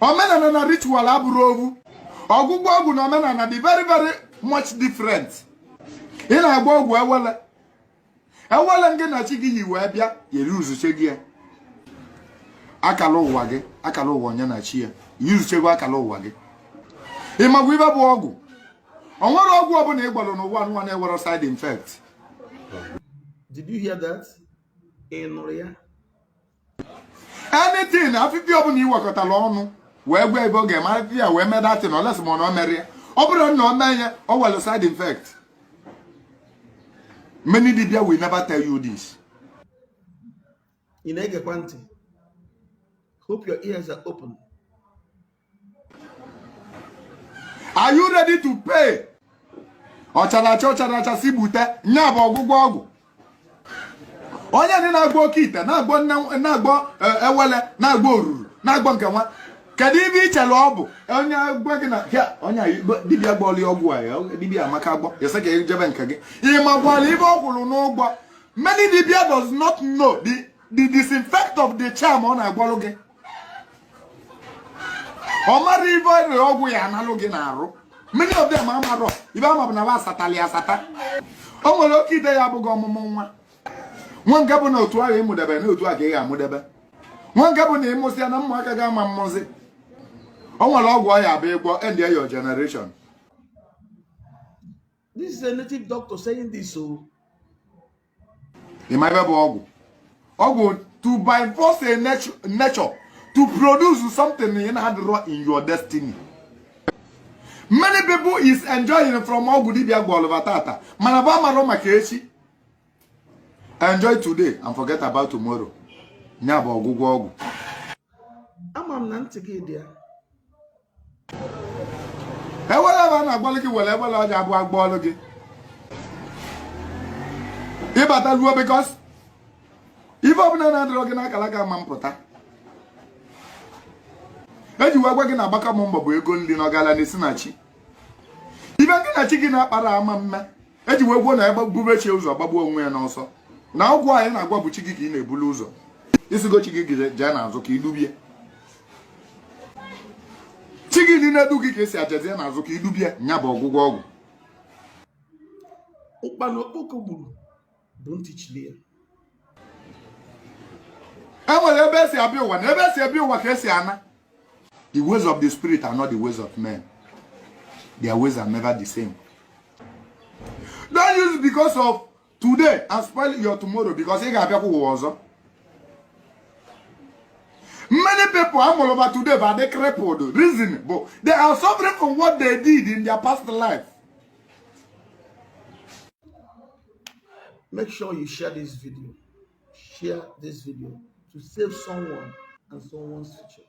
omenana na ritual abụrọ ovu ọgwụgwọ ọgwụ na omenana dị very very much different ị na-agwọ ọgwụ ewele ewele ngị na chi gị yi wee bịa yere uzuche gị ya akala ụwa gị akala ụwa onye na chi ya yuzuchego akala ụwa gị ị makwa ive bụ ọgwụ o nwerọ ọgwụ ọbụla ị gwọlụ n'ụwa nwa na-enwerọ side effect did you hear that ị nụrụ ya anything afịfịa ọbụla i wekọtara ọnụ wee gwa ive ọ ga-eme afịfịa wee mee that thing unless ma ọ na o merọ ya ọ bụrụ na o mee ya o nwere side infect many dibia will never tell you this ị na-egekwa ntị hope your ears are open are you ready to pay ọ chara acha ọ charọ acha sị gbute nya bụ ọgwụgwọ ọgwụ onye ndị na-agwọ oke ite na-agwọ na-agwọ e, ewele na-agwọ oruru na-agwọ nke nwa kedu ive i chere ọ bụ onye gwa gị na onye dibia gwọọlụ ya ọgwụ a dibia a maka agwọ ya sị ka e jebe nke gị ị makwalụ ive ọ kwụrụ n'ụgwọ many dibia does not know the the disinfect of the charm ọ na-agwọlụ gị ọ marọ ive rere ọgwụ ya analụ gị n'arụ many of them amarọ ive va ma bụ na va asatali asata o nwere oke ite ya-abụ ị gwọọ ọmụmụ nwa nwe nke bụ na otu ahụ ị mụdebe na otu a ka ị ga-amụdebe nwe nke bụ na ị mụsịa na ụmụaka gị ama amụzi o nwere ọgwụ ọ ya-abụ ị gwọọ end ya your generation This is a native doctor saying this o. Oh. Ị ma ive bụ ọgwụ? Ọgwụ to by force a nature to produce something na-adịrọ in your destiny. Many people is enjoying from ọgwụ dibịa gwọlụ va tata mana va amarọ maka echi. Enjoy today and forget about tomorrow. Nya bụ ọgwụgwọ ọgwụ. Ama m na ntị gị dị ya. ewele va na-agwọlụ gị nwere ewele ọ ja-abụ a gwọọlụ gị ị bata ruo because ife ọbụla na-adịrọ gị n'akara aka ama mpụta e ji wee gwa gị na agbaka m mbọ bụ ego nri na ọgalanya na-esi na chi ife ngị na chi gị na-akparọ ama mme e ji wee kwuo na onye bube chi ya ụzọ gbagbuo onwe ya n'ọsọ na ọgwụ a ị na-agwọ bụ chi gị ka ị na-ebulu ụzọ ị sịgo chi gị jee n'azụ ka i dube ya chi gị nị na-edu gị ka ị sị ya jezie n'azụ ka i dube ya nya bụ ọgwụgwọ ọgwụ ụkpana okpoko gburu bụ ntị chili ya e nwere ebe e si abịa ụwa na ebe e si abịa ụwa ka e si ana the ways of the spirit are not the ways of men their ways are never the same don't use because of today and spoil your tomorrow because ị ga-abịakwa ụwa ọzọ many people amụrụ ba today bụ adị crippled reason bụ they are suffering from what they did in their past life make sure you share this video share this video to save someone and someone's future